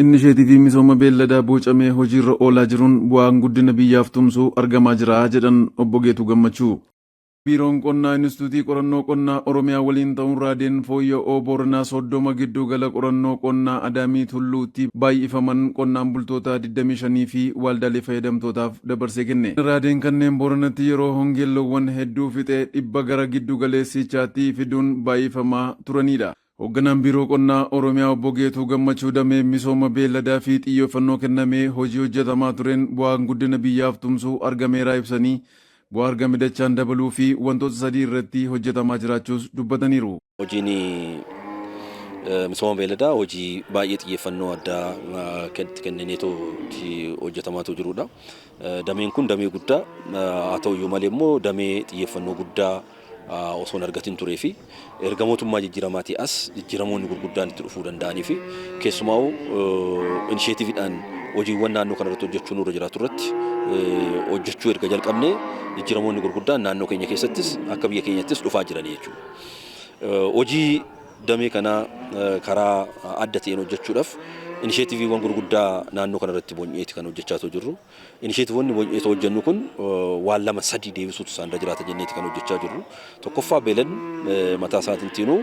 Innisheetiivii misooma beelladaa boocamee hojiirra oolaa jiruun bu'aan guddina biyyaaf tumsu argamaa jira jedhan Obbo Geetuu Gammachuu. Biiroon Qonnaa Inistituutii Qorannoo Qonnaa Oromiyaa waliin ta'uun raadeen fooyya'oo Booranaa 30 giddu gala qorannoo qonnaa Adaamii Tulluutti baay'ifaman qonnaan bultoota 25 fi waaldaalee fayyadamtootaaf dabarsee kenne. Raadeen kanneen Booranatti yeroo hongeen loowwan hedduu fixe dhibba gara giddu galeessiichaatti fiduun baay'ifamaa turaniidha. Hogganaan Biiroo Qonnaa Oromiyaa Obbo Geetuu Gammachuu damee misooma beelladaa fi xiyyeeffannoo kennamee hojii hojjetamaa tureen bu'aan guddina biyyaaf tumsu argameeraa ibsanii, bu'aa argame dachaan dabaluu fi wantoota sadii irratti hojjetamaa jiraachuus dubbataniiru. Hojiin misooma beelladaa hojii baay'ee xiyyeeffannoo addaa itti kennineetu hojjetamaatu jiruudha. Dameen kun damee guddaa haa ta'u iyyuu malee immoo damee xiyyeeffannoo guddaa osoo hin argatin turee fi erga mootummaa jijjiiramaatii as jijjiiramoonni gurguddaan itti dhufuu danda'anii fi keessumaa'u inisheetiividhaan hojiiwwan naannoo kana irratti hojjechuu nurra jiraatu irratti hojjechuu erga jalqabnee jijjiiramoonni gurguddaan naannoo keenya keessattis akka biyya keenyattis dhufaa jiranii jechuudha. Hojii Damee kana karaa adda ta'een hojjechuudhaaf inisheetiviiwwan gurguddaa naannoo kana irratti bonyeeti kan hojjechaa otoo jirru. Inisheetivoonni bonyee otoo hojjennu kun waan lama sadii deebisuutu isaan irra jiraata jenneeti kan hojjechaa jirru. Tokkoffaa beelan mataa isaatintiinuu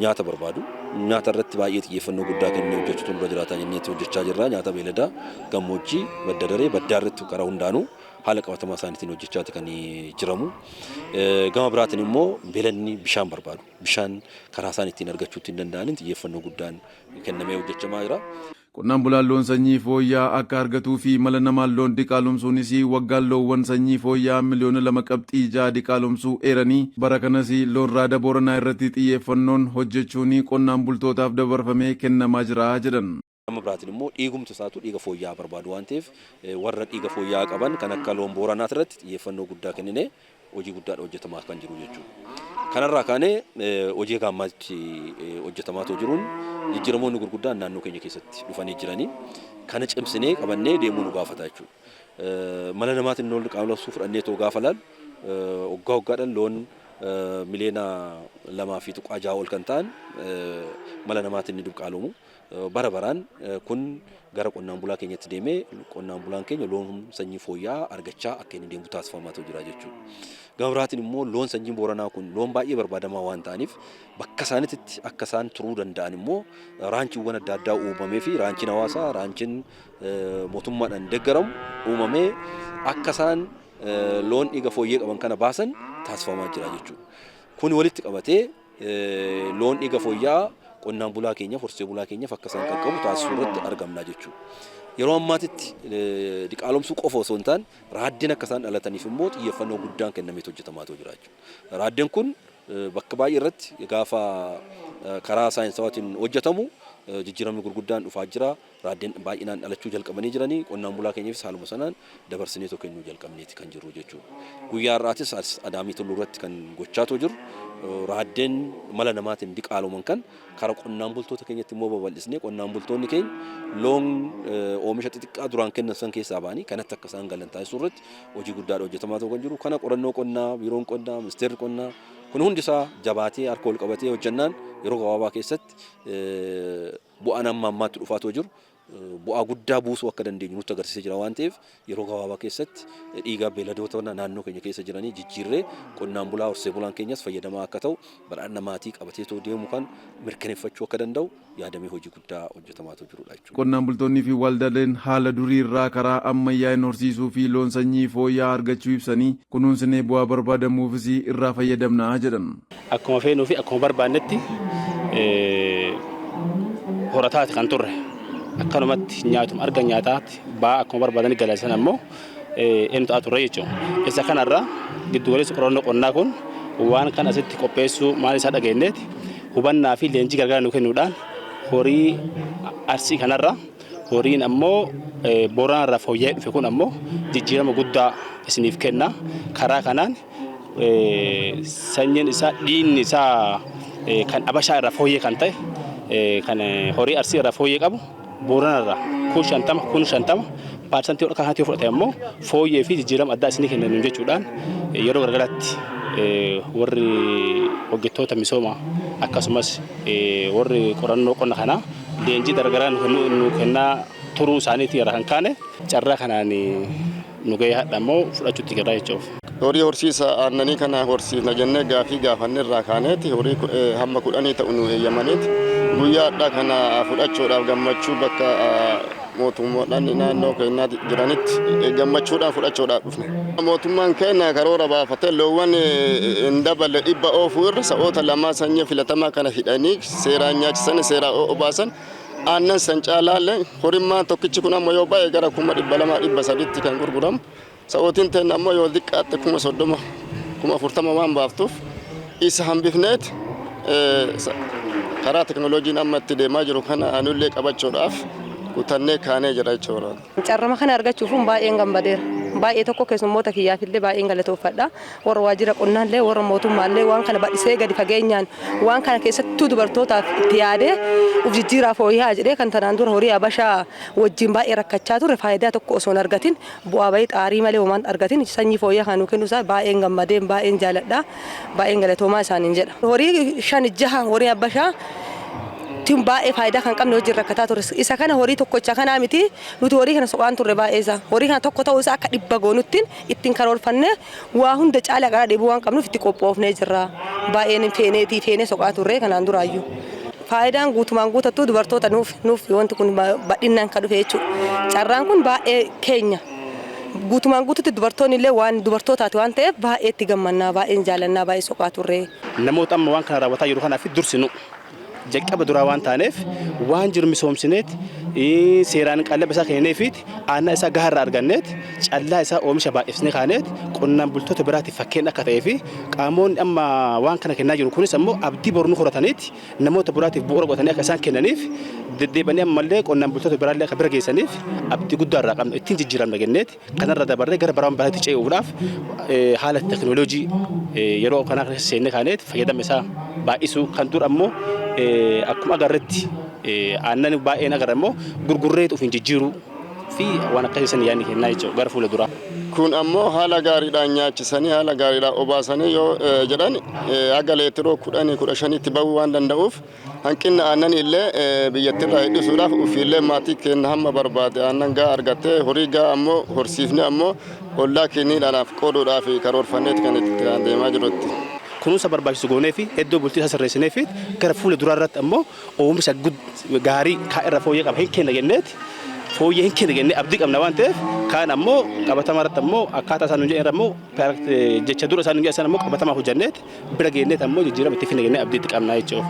nyaata barbaadu. Nyaata irratti baay'ee xiyyeeffannoo guddaa kennee hojjechuutu nurra jiraata jenneeti hojjechaa jirra. Nyaata beeladaa, gammoojjii, badda daree, baddaa irratti karaa hundaanuu. haala qabatamaa isaaniitiin hojjechaati kan jiramu. Gama biraatiin immoo beelanni bishaan barbaadu. Bishaan karaa isaan ittiin argachuu ittiin danda'aniin xiyyeeffannoo guddaan kennamee hojjechamaa jira. Qonnaan bulaan loon sanyii fooyya'aa akka argatuu fi mala namaan loon diqaalomsuunis waggaan loowwan sanyii fooyya'aa miliyoona lama qabxii ja'a diqaalomsuu eeranii bara kanas loon raada Booranaa irratti xiyyeeffannoon hojjechuun qonnaan bultootaaf dabarfamee kennamaa jira jedhan. Gama biraatiin immoo dhiigumti isaatu dhiiga fooyya'aa barbaadu waan ta'eef warra dhiiga fooyya'aa qaban kan akka loon Booranaas irratti xiyyeeffannoo guddaa kenninee hojii guddaadha hojjetamaa kan jiru jechuudha. Kanarraa kaanee hojii gaammaatti hojjetamaatoo jiruun jijjiiramoonni gurguddaan naannoo keenya keessatti dhufanii jiranii kana cimsinee qabannee deemuu nu gaafata jechuudha. Mala namaatiin loon qaama labsuu fudhannee too gaafa laalu waggaa waggaadhaan loon miliyoona lamaa fi tuqaa jaha ol kan ta'an mala namaatiin ni dubqaalomu. Bara baraan kun gara qonnaan bulaa keenyatti deemee qonnaan bulaan keenya loon sanyii fooyya'aa argachaa akka inni deemu taasifamaatu jira jechuudha. Gama biraatiin immoo loon sanyiin Booranaa kun loon baay'ee barbaadamaa waan ta'aniif bakka isaanitti akka isaan turuu danda'an immoo raanchiiwwan adda addaa uumamee fi raanchiin hawaasaa raanchiin mootummaadhaan deeggaramu uumamee akka isaan loon dhiiga fooyyee qaban kana baasan taasifamaa jira jechuudha. Kun walitti qabatee Loon dhiiga fooyya'aa qonnaan bulaa keenyaaf, horsee bulaa keenyaaf akka isaan qaqqabu taasisuu irratti argamna jechuudha. Yeroo ammaatitti diqaalomsuu qofa osoo hin taane raaddeen akka isaan dhalataniif immoo xiyyeeffannoo guddaan kennameet hojjetamaa ta'u jira jechuudha. Raaddeen kun bakka baay'ee irratti gaafa karaa saayinsawaatiin hojjetamu jijjiiramni gurguddaan dhufaa jira. Raaddeen baay'inaan dhalachuu jalqabanii jiranii qonnaan bulaa keenyafis haaluma sanaan dabarsineetoo kennuu jalqabneeti kan jirru jechuudha. Guyyaa har'aatis as Adaamii Tulluu irratti kan gochaatoo jirru raaddeen mala namaatiin diqaaloman kan kara qonnaan bultoota keenyatti immoo babal'isnee qonnaan bultoonni keenya loon oomisha xixiqqaa duraan kennan san keessaa ba'anii kanatti akka isaan galan taasisuu irratti hojii guddaadha hojjetamaa ta'uu kan jiru. Kana qorannoo qonnaa, biiroon qonnaa, ministeerri qonnaa kun hundi isaa jabaatee harka wal qabatee hojjannaan yeroo gabaabaa keessatti Bu'aan amma ammaatti dhufaa otoo jiru bu'aa guddaa buusuu akka dandeenyu nutti agarsiisee jira waan ta'eef yeroo gabaabaa keessatti dhiigaa beeladoota naannoo keenya keessa jiranii jijjiirree qonnaan bulaa horsee bulaan keenyas fayyadamaa akka ta'u badhaadhina maatii qabatee otoo deemu kan mirkaneeffachuu akka danda'u yaadamee hojii guddaa hojjetamaa otoo jirudha jechuudha. Qonnaan bultoonnii fi waldaaleen haala durii irraa karaa ammayyaa'een horsiisuu fi loon sanyii fooyya'aa argachuu ibsanii, kunuunsinee bu'aa barbaadamuufis irraa fayyadamna jedhan. Akkuma feenuu fi akkuma barbaannetti horataati kan turre. Akkanumatti nyaatuma argan nyaataatti ba'aa akkuma barbaadanii galaisan ammoo inni ta'a turre jechuudha. Isa kanarraa giddugaleessi qorannoo qonnaa kun waan kan asitti qopheessuu maal isaa dhageenyeeti hubannaa fi leenjii gargaara nu kennuudhaan horii arsii kanarraa horiin ammoo booranarraa fooyya'ee dhufe kun ammoo jijjiirama guddaa isiniif kenna karaa kanaan sanyiin isaa dhiinni isaa kan abashaa irraa fooyyee kan ta'e kan horii arsii irraa fooyyee qabu boorana irraa kun shantama kun shantama paarsantii ol kanatti yoo fudhate ammoo fooyyee fi jijjiirama addaa isinii kenna nuun jechuudhaan yeroo garagaraatti warri hojjettoota misooma akkasumas warri qorannoo qonna kanaa leenjii garagaraa nu kennaa turuu isaaniitii irraa kan kaane carraa kanaan nu gahee hadha immoo fudhachuutti jirra jechuuf. Horii horsiisa aannanii kana horsiifna jennee gaafii gaafanne irraa kaaneeti horii hamma kudhanii ta'u nu heeyyamaneeti guyyaa hadhaa kana fudhachuudhaaf gammachuu bakka mootummoodhaan naannoo keenyaatti jiranitti gammachuudhaan fudhachuudhaaf dhufne. Mootummaan keenya karoora baafatee loowwan hin daballe dhibba oofuu irra sa'oota lamaa sanyii filatamaa kana hidhanii seeraan nyaachisanii seeraa obaasan Aannan san caalaa illee horimmaan tokkichi kun ammoo yoo baay'e gara kuma dhibba lamaa dhibba sadiitti kan gurguramu. Sa'ootiin teenna ammoo yoo diqqaatte kuma soddoma kuma afurtama waan baaftuuf isa hambifneet karaa teknolojiin amma itti deemaa jiru kana anullee qabachuudhaaf kutannee kaanee jira jechuudha. Carrama kana argachuufun baay'een gammadeera. Baay'ee tokko keessummoota kiyyaafillee baay'een galatoofadha. Warra waajjira qonnaallee, warra mootummaallee waan kana bal'isee gadi fageenyaan waan kana keessattuu dubartootaaf itti yaadee uf jijjiiraa fooyya'aa jedhee kan tanaan dura horii habashaa wajjin baay'ee rakkachaa turre faayidaa tokko osoo hin argatin bu'aa ba'ii xaarii malee homaa hin argatin sanyii fooyya'aa kana nuu kennuu isaa baay'een gammadeen baay'een jaaladha. Baay'een galatoomaa isaaniin jedha. Horii shan jaha horii abbashaa tun baay'ee faayidaa kan qabne wajjin rakkataa turre. Isa kana horii tokkocha kanaa miti nuti horii kana soqaan turre baay'ee isaa. Horii kana tokko ta'uu isaa akka dhibba goonuttiin ittiin karoorfannee waa hunda caalaa qaraa dheebuu waan qabnuuf itti qophoofnee jirra. Baay'een feeneetii feenee soqaa turre kanaan duraayyuu. Faayidaan guutumaan guutattuu dubartoota nuuf nuuf wanti kun badhinnaan kan dhufe jechuudha. Carraan kun baay'ee keenya. Guutumaan guututti dubartoonni illee waan dubartootaati waan ta'eef baay'ee itti gammannaa, baay'een jaalannaa, baay'ee soqaa turre. Namoota amma waan kana raawwataa jiru kanaafis dursi nu. Jalqaba duraa waan taaneef waan jiru misoomsineet, seeraan qallaba isaa kennineefiit, aannan isaa gahaa irraa arganneet, callaa isaa oomisha baay'ifsnee kaaneet qonnaan bultoota biraatiif fakkeenna akka ta'ee fi qaamoonni amma waan kana kennaa jiru kunis ammoo abdii boru nu horataniit, namoota biraatiif bu'uura godhatanii akka isaan kennaniif deddeebanii ammallee qonnaan bultoota biraallee akka bira geessaniif abdii guddaa irraa qabna ittiin jijjiiramna jenneeti kanarra dabarree gara baraan baraatti ce'uudhaaf haala teknooloojii yeroo kanaa keessa seennee kaaneeti fayyadama isaa baay'isuu kan dur ammoo akkuma agarretti aannan baay'een agarra immoo gurgurreetu ofiin jijjiiruu fi waan akkasii san yaadni kennaa jechuudha gara fuula duraa. Kun ammoo haala gaariidhaan nyaachisanii haala gaariidhaan obaasanii yoo jedhan haga leetiroo kudhanii kudha shanitti bahuu waan danda'uuf hanqinna aannanii illee biyyattirraa hir'isuudhaaf ofiillee maatii keenya hamma barbaade aannan gahaa argattee horii gahaa ammoo horsiifnee ammoo ollaa keenyaadhaaf qooduudhaaf karoorfanneeti kan itti deemaa jirutti. Kunuunsa barbaachisu goonee fi iddoo bultii isaa sirreessinee fi gara fuula duraa irratti ammoo oomsha gaarii kaan irra fooyyee qaba hin kenna jenneeti fooyyee hin kenna jennee abdii qabna waan ta'eef kaan ammoo qabatama irratti ammoo akkaataa isaan hojjetan ammoo jecha dura isaan hojjetan ammoo qabatama hojjenneeti bira geenneeti ammoo jijjiirama itti finna jennee abdiitti qabna jechuudha.